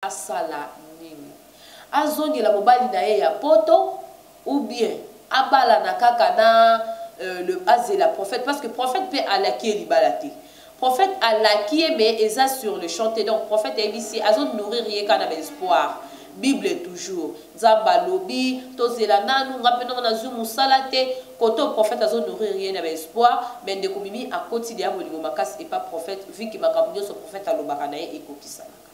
asala nini azongela mobali na ye ya poto ou bien abalana kaka na euh, le azela prophète parce que prophète pe alaki ye libala te prophète alaki ye mais eza sur le champ te donc prophète ayebisi ye azo nourrir ye kaka na ba espoir bible toujours nzambe alobi tozela nanu nga mpe nongo nazwi mosala te kote oyo prophète azo nourrir ye na baespoir mai ndeko mimi akoti deya bolingo makasi epa prophète viki makambo nyonso prophète alobaka na ye ekokisanaka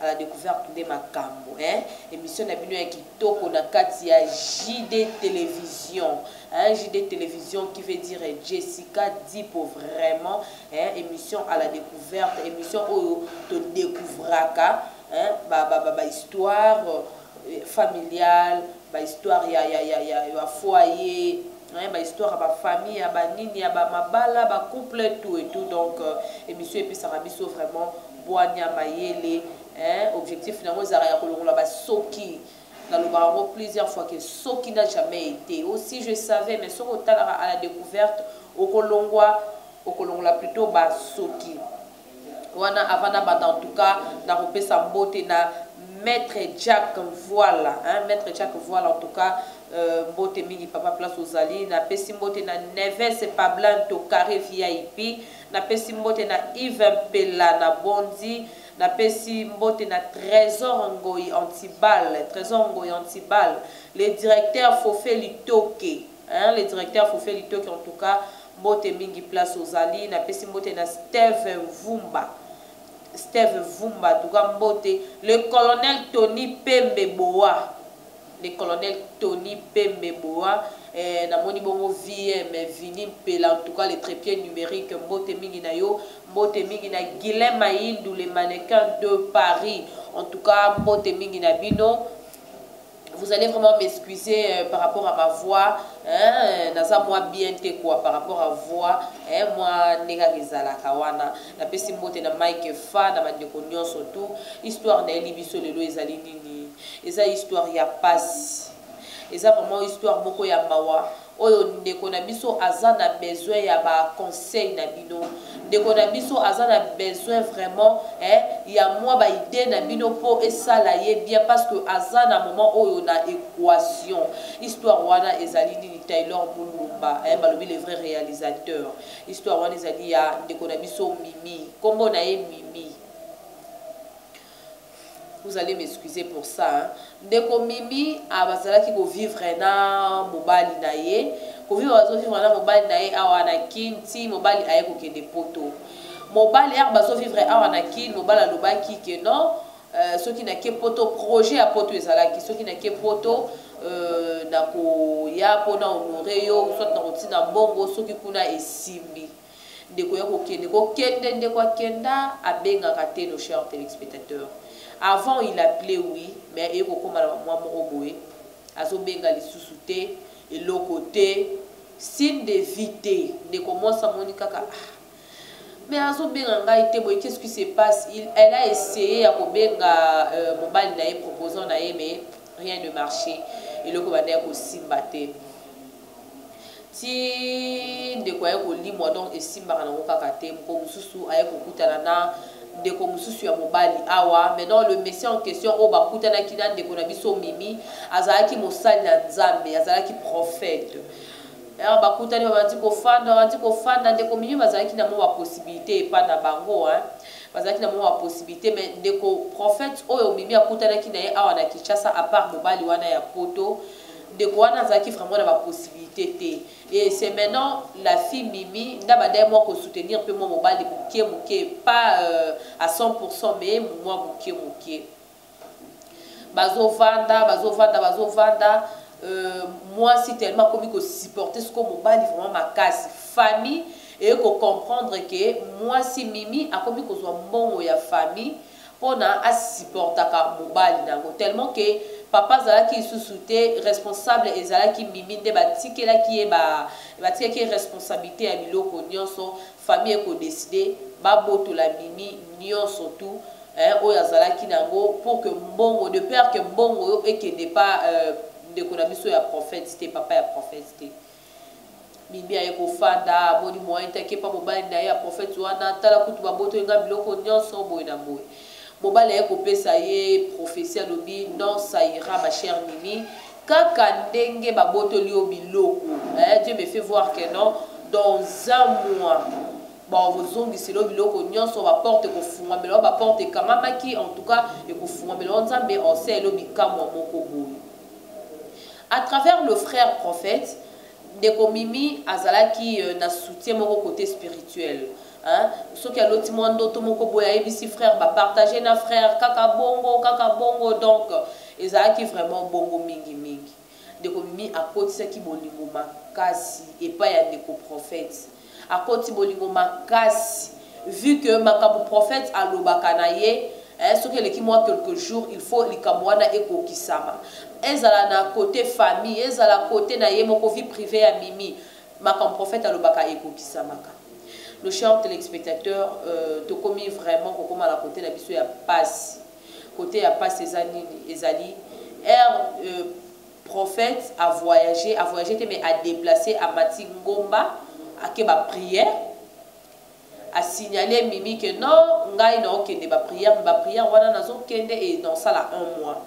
à la découverte nde makambo hein? émission na bino ya kitoko na kati ya JD télévision hein? JD télévision qui veut dire Jessica Dipo vraiment hein? émission à la découverte émission oyo to découvraka hein? ba ba ba, ba histoire euh, familiale ba histoire ya ya ya ya, ya foyer hein ba histoire ya ba famille ya ba nini ya ba mabala ba couple tout et tout donc euh, émission epesaka biso vraiment bwanya mayele hein objectif nango ezalaka ya kolongola ba soki nalobaka yango plusieurs fois que soki n'a jamais été aussi je savais mais soki otalaka à la découverte okolongwa okolongola plutôt ba soki wana avant na banda en tout cas na kopesa mbote na maître Jack Voila hein maître Jack Voila en tout cas euh, mbote mingi papa place ozali na pesi mbote na Neves Pablan to carré VIP na pesi mbote na Yves Pella na Bondi na pesi mbote na Trésor Ngoyi Antibal Trésor Ngoyi Antibal le directeur Fofé Litoke Hein le directeur fufe litoke en tout cas mbote mingi place ozali na pesi mbote na steve vumba steve vumba en tout cas mbote le colonel tony pembe boa le colonel tony pembe boa eh, na moni bongo vm vini mpela en tout cas le trepied numérique mbote mingi na yo mbote mingi na guilain mayindu le mannequin de paris en tout cas mbote mingi na bino vous allez vraiment m'excuser euh, par rapport à ma voix hein, naza mwa bien te quoi par rapport à voix hein, mwa ndenge kaka ezalaka wana napesi mbote na mike fa na bandeko nyonso tout histoire nayeli biso lelo ezali nini eza histoire ya pasi eza vraiment histoire moko ya mawa Oyo ndeko na biso aza na besoin ya ba conseils na bino. Ndeko na biso aza na besoin vraiment eh ya mwa ba idees na bino po esala ye bien parce que aza na moment oyo na equation. Histoire wana ezali nini Taylor Mulumba eh balobi le vrai realisateur. Histoire wana ezali ya ndeko na biso Mimi. Kombo na ye Mimi. Vous allez m'excuser pour ça hein. Ndeko Mimi abazalaki ko vivre na mobali na ye. Ko vivre bazo vivre na mobali na ye awa na Kin ti mobali aye ko kende poto. Mobali awa bazo vivre awa na Kin mobali alobaki que non euh, soki na ke poto projet ya poto ezalaki soki na ke poto euh, na ko ya pona honore yo soit na kotina mbongo soki kuna esimbi. Ndeko ya kokende kokende ndeko akenda abengaka te nos chers telespectateurs avant il appelait oui mais eye kokoma na bamwa moko boye azobenga lisusu te eloko te signe de vie te ndeko mwasi amoni kaka ah, mais azobenga ngai te boye qu'est-ce qui se passe il, elle a essayé ya kobenga euh, mobali na ye proposant na ye mais rien ne marché eloko banda ya kosimba te ti ndeko aye kolimwa donc esimbaka nango kaka te moko mosusu aye kokutana na ndeko mosusu ya mobali awa mais donc le monsieur en question oyo bakutanaki na ndeko na biso mimi azalaki mosali na nzambe azalaki prophète alors bakutani babandi kofanda babandi kofanda ndeko mimi bazalaki na mwa bapossibilité epai na bango hein. bazalaki na mwa bapossibilité mais ndeko prophète oyo mimi akutanaki na ye awa na kinshasa apart mobali wana ya poto Ndeko wana azalaki vraiment na ba possibilité te et c'est maintenant la fille Mimi na bandai mwa ko soutenir pe mwa mobali mukie mukie pas euh, à 100% mais mwa mukie mukie bazovanda bazovanda bazovanda euh, mwasi tellement akomi kosupporte siko mobali vraiment makasi famille eye kocomprendre ke mwasi mimi akomi kozwa mbongo ya famille pona a supportaka mobali nango tellement que papa azalaki lisusu te responsable ezalaki mimi nde batikelaki ye ba batikaki ye responsabilite ya biloko nionso famille eko decide babotola mimi nionso tout eh, oyo azalaki nango pour que mbongo de père que mbongo ekende pa euh, ndeko na biso ya prophète te papa ya prophète te Mimi aye kofanda amoni moyen te akepa mobali naye ya prophète wana tala kutu babotoli nga biloko nionso boye na boye mobali aye kopesa ye prophetie alobi non ça ira ma chère Mimi kaka ndenge babotoli yo biloko eh Dieu me fait voir que non dans un mois bakozongisela yo biloko nionso ba porte ekofungamela yo ba porte ekangamaki en tout cas ekofungamela yo nzambe osele yo bikamwa moko boye A travers le frère prophète, ndeko Mimi azalaki na soutien moko cote spirituel hein, soki aloti mwa ndoto moko boye ayebisi frère ba partager na frère kaka bongo kaka bongo donc ezalaki vraiment bongo mingi mingi. Ndeko Mimi akotisaki bolingo makasi epai ya ndeko prophète. Akoti bolingo makasi vu que makambo prophète alobaka na ye eh, soki eleki mwa quelques jours il faut likambo wana ekokisama ezala na cote famille ezala cote na ye moko vie privée ya mimi makambo prophète alobaka ekokisamaka nos chers téléspectateurs euh, tokomi vraiment kokoma na cote na biso ya pasi cote ya pasi eza nini ezali ere euh, Prophète a voyage a voyage te mais a deplace amati ngomba ake ba prière a signale mimi que non ngai na okende ba prière ba prière wana nazo kende et na osala un mois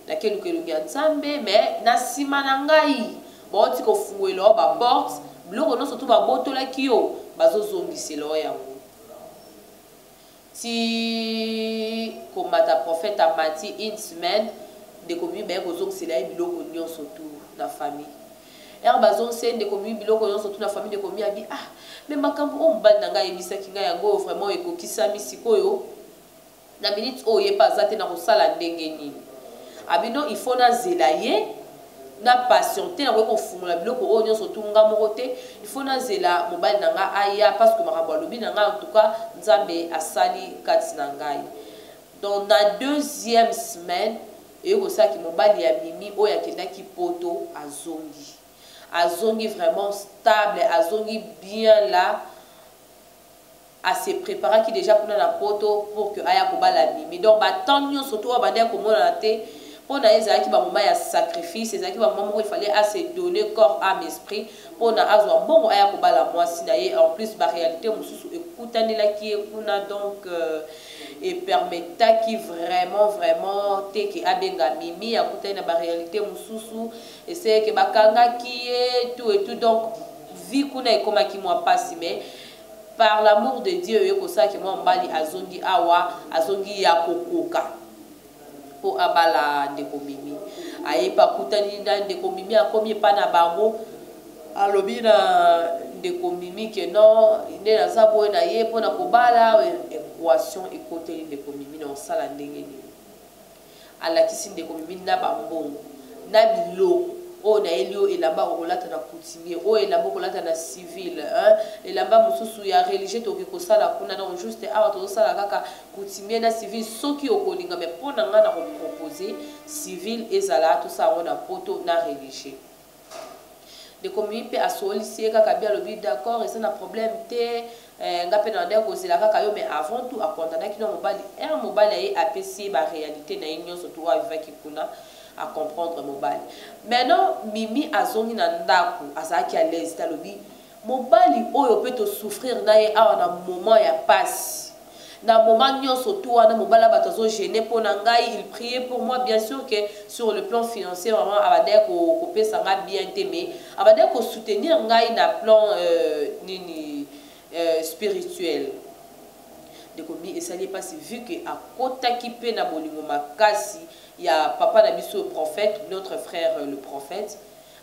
nake luka elongi ya nzambe mais na sima na ngai baoti kofunguela yo ba porte biloko nyonso to babotolaki yo bazozongisela yo yango Tii komata prophète amati une semaine ndeko miyu baye kozongisela ye biloko nionso tout na famille heure bazongisa ye ndeko miyu biloko nionso tout na famille ndeko miyu abi ah mais makambu oyo mobali na ngai ayebisaki ngai yango oyo vraiment ekokisami sikoyo na minute oyo ye pe aza te nakosala ndenge nini abi non il faut nazela ye na passion te nakoki kofungola biloko oyo nyonso tu nga moko te il faut nazela mobali na nga aya parce que makambo alobi na nga en tout cas nzambe asali kati na ngai donc na deuxième semaine eye kosala ki mobali ya mimi oyo akendaki poto azongi azongi vraiment stable azongi bien la a se preparaki dejà kuna na poto pour que aya kobala mimi donc ba temps nionso to abandaki komonana te mpo na ye ezalaki ba moment ya sacrifice ezalaki ba moment moko il fallait a se donner corps ame esprit mpo na azwa mbongo aya kobala mwasi na ye en plus ba realite mosusu ekutanelaki ye kuna donc euh, epermetaki vraiment vraiment te ke abenga mimi akutani na ba realite mosusu eseyeke bakangaki ye tout et tout donc vie kuna ekomaki mwa pasi mais par l'amour de Dieu oye kosala ke mwa mobali azongi awa azongi ya kokoka po abala ndeko mimi aye pa kutani na ndeko mimi akomi epa na bango alobi na ndeko mimi ke non nde naza boye na ye mpo na kobala equation ekoteli ndeko mimi na osala ndenge nini alakisi ndeko mimi na ba mbongo na biloko oyo nayeli yo elamba okolata na coutumier oyo elamba okolata na civil elamba mosusu ya religieux tokoki kosala kuna donc juste awa tozosala kaka coutumier na civil soki okolinga mai mpo na ngai na kopropose civil ezala tosala yango na poto na religieux ndeko mimi mpe asolisi ye kaka bi alobi d'accord eza na problème te eh, nga mpe nalandaki kozela kaka yo mais avant tout akondanaki na mobali un eh, mobali aye apesi ye baréalité na ye nyonso tu oyo avivaki kuna acomprendre mobali maintenant mimi azongi na ndako azalaki alaise te alobi Mobali oyo pe to souffrir na ye awa na moment ya pasi na moment nionso tout wana mobali ya batu azo gener po na ngai il prier pour moi bien sur que sur le plan financier vraiment abandaki ko ko pesa ngai bien te mais abandaki ko soutenir ngai na plan nini spirituel ndeko mi esali ye pasi vu que akotaki pe na bolingo makasi ya papa na biso prophète notre frère le prophète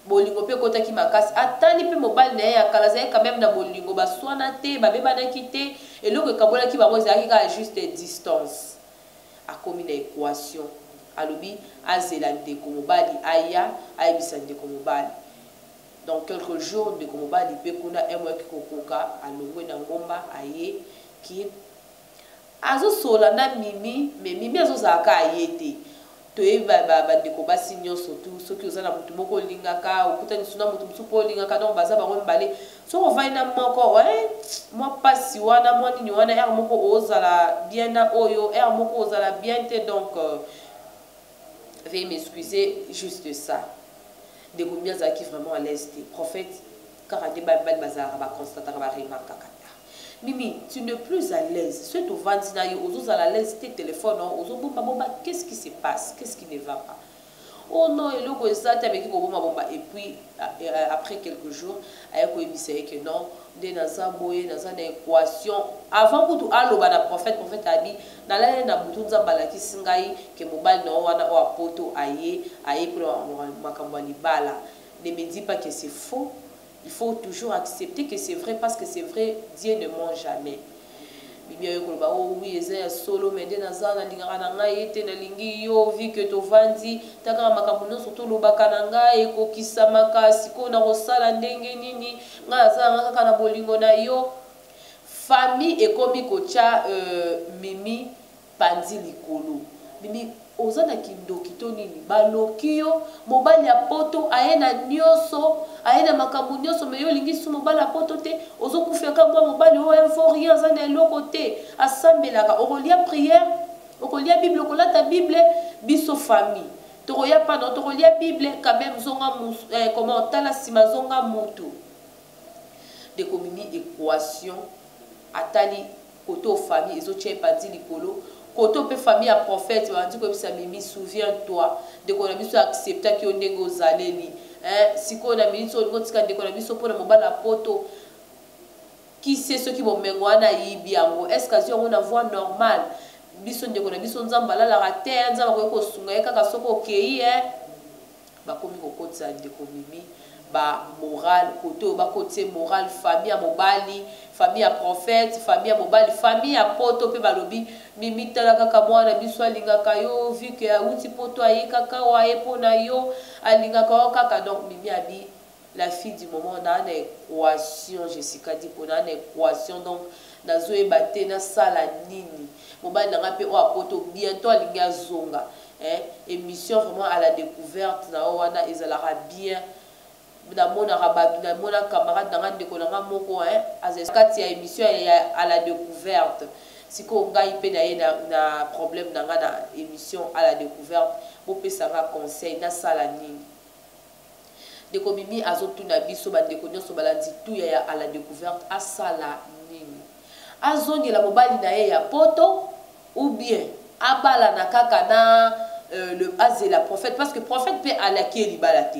Bolingo mpe ekotaki makasi. Atali mpe mobali na ye ya kala azalaki quand meme na bolingo, baswana te, babebanaki te, eloko ekabolaki bango ezalaki kaka juste distance. Akomi na equation, alobi azela ndeko mobali aya ayebisa ndeko mobali. Dans quelques jours, ndeko mobali mpe kuna MWEC kokoka alongwe na ngomba aye kin Azo solola na mimi mais mimi azo zala kaka ye te toyebi ba ba ndeko basi nionso tout soki oza na mutu moko olingaka okutani lisusu na mutu mususu po olingaka donc baza bango mibale soki ovandi na moko eeh mua pasi wana mua nini wana heure moko ozala bien na oyo heure moko ozala bien te donc veuillez m'excuser juste ça ndeko mimi azalaki vraiment à l'aise te prophète kaka nde ba mibali bazalaka ba constataka ba remarque kaka ta mimi tu ne plus à l'aise soki tovandi na yo ozozala à l'aise te telefone yango ozobomba bomba qu'est ce qui se passe qu'est ce qui ne va pas oh non eloko eza te ameki kobomba bomba et puis euh, après quelques jours aye koyebisa ye ke non nde naza boye naza na équation avant kutu aloba na prophète prophète abi nalali na butu nzambe alakisi ngai ke mobali na yo wana oyo apoto aye aye mpona makambo ya libala Ne me dit pas que c'est faux il faut toujours accepter que c'est vrai parce que c'est vrai Dieu ne ment jamais bibi ayo koloba oh oui eza ya solo mais nde naza na lingaka na ngai ete na lingi yo vi que tovandi takaka makambo nyonso tolobaka na ngai ekokisamaka sikoyo na kosala ndenge nini ngai naza nanga kaka na bolingo na yo famille ekomi kotya euh, mimi panzi likolo mimi oza na kindoki to nini baloki yo mobali ya poto aye na nioso aye na makambo nioso me yo olingi su mobali ya poto te ozokufa ka bwa mobali oyo info rien aza na eloko te asambelaka okolia priere okolia bible okolata bible biso famille tokoya pano tokolia bible quand même zonga eh, comment tala nsima zonga mutu ndeko mimi equation atali cote oyo famille ezo tia epanzi likolo cote oyo pe famille ya prophète babandi koyebisa mimi souviens toi ndeko na biso acceptaki yo ndenge ozaleli eh, sikoyo na minute oyo olingi otika ndeko na biso mpona mobali ya poto kise soki bomengo wana ayibi yango est ce que azwi yango na voie normale biso ndeko na biso nzambe alalaka te nzambe akoki kosunga ye kaka soki okei e Bakomi kokotisa ndeko mimi ba morale kote oyo bakotisa ye morale famille ya mobali famille ya prophète famille ya mobali famille ya poto pe balobi mimi tala kaka mwana biso alingaka yo vu que awuti poto aye kaka awa aye pona yo alingaka yo kaka donc mimi abi La fille du moment na na equation Jessica Dipo na na equation donc nazo yeba te na sala nini mobali na nga pe oyo apoto bientot alingi azonga eh emission vraiment à la decouverte na yo wana ezalaka bien na monaka batu na mona camarade na nga ndeko na nga moko eh azali kati ya emission ya à la decouverte sikoyo ngai pe na ye na, na problème na nga na emission à la decouverte bopesa nga conseil na sala nini Ndeko Mimi azo tuna biso ba ndeko nionso balandi tuya ya à la decouverte asala nini? Azongela mobali na ye ya poto ou bien abalana kaka na euh, le azela prophète parce que prophète pe alaki ye libala te.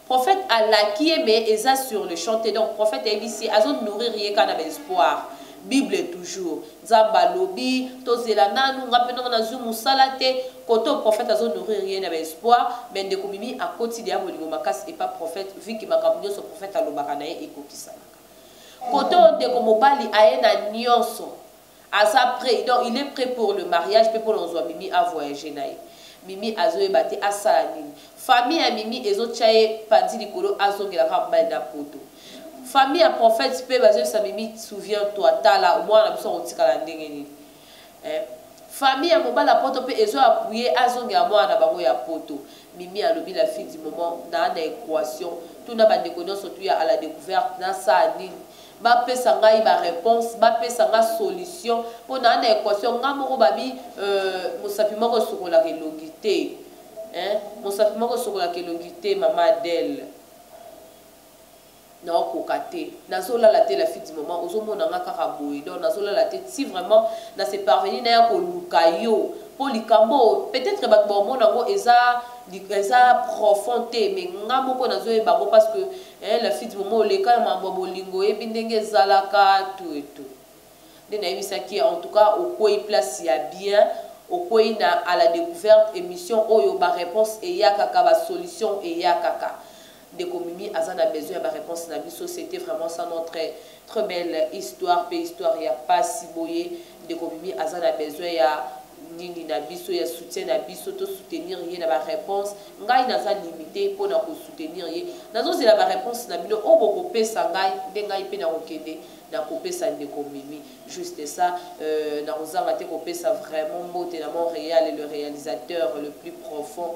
Prophète alaki ye mais eza sur le champ te donc prophète ayebisi azo nourrir ye kaka na ba espoir. Bible toujours. Nzambe alobi tozela nanu nga pe noko nazui musala te cote oyo prophète azo nourrir ye na ba espoir mais ndeko mimi akoti dejà bolingo makasi epa prophète vu que makambo nionso prophète alobaka na ye ekokisamaka cote oyo ndeko mobali aye na nionso aza pret donc il est pret pour le mariage pe pona ozua mimi a voyager na ye mimi azo yeba te asala nini famille ya mimi ezo tia ye panzi likolo azongela kaka mobali na poto. Famille ya prophète pe bazo yebisa mimi souviens toi tala mwana na biso akotikala ndenge nini eh? Famille ya mobali ya poto pe ezo appuye azongela mwana na bango ya poto mimi alobi la fille du moment na na equation tuna ba ndeko nionso tuya à la decouverte na sa nini bapesa ngai bareponse bapesa ngai solution mpo naa na equation ngai moko babi euh, mosapi moko esokolaka elongi te mosapi moko esokolaka elongi te mama adele Nao koka te. Nazo lala te la fille du moment ozo mona nga kaka boye donc nazo lala te ti vraiment na se parvenir naya ko luka yo po likambo oyo peut etre batu bao mona ngo eza eza profond te mais nga moko nazo yeba ngo parce que eh, la fille du moment oleka na mambo ya bolingo oyebi ndenge ezalaka tout et tout nde nayebisaki en tout cas okwei place ya bien okwei na à la découverte émission oyo ba réponse eyakaka ba solution eyakaka Ndeko Mimi aza na besoin ya ba reponse na biso c'etait vraiment ça notre très belle histoire pe histoire ya pasi boye ndeko Mimi aza na besoin ya nini na biso ya soutien na biso to soutenir ye na ba reponse ngai naza limite mpo na ko soutenir ye nazozela ba reponse na bino oyo bokopesa ngai nde ngai mpe nakokende nakopesa ndeko Mimi juste ça euh, nakozanga te kopesa vraiment mbote na Montréal le réalisateur le plus profond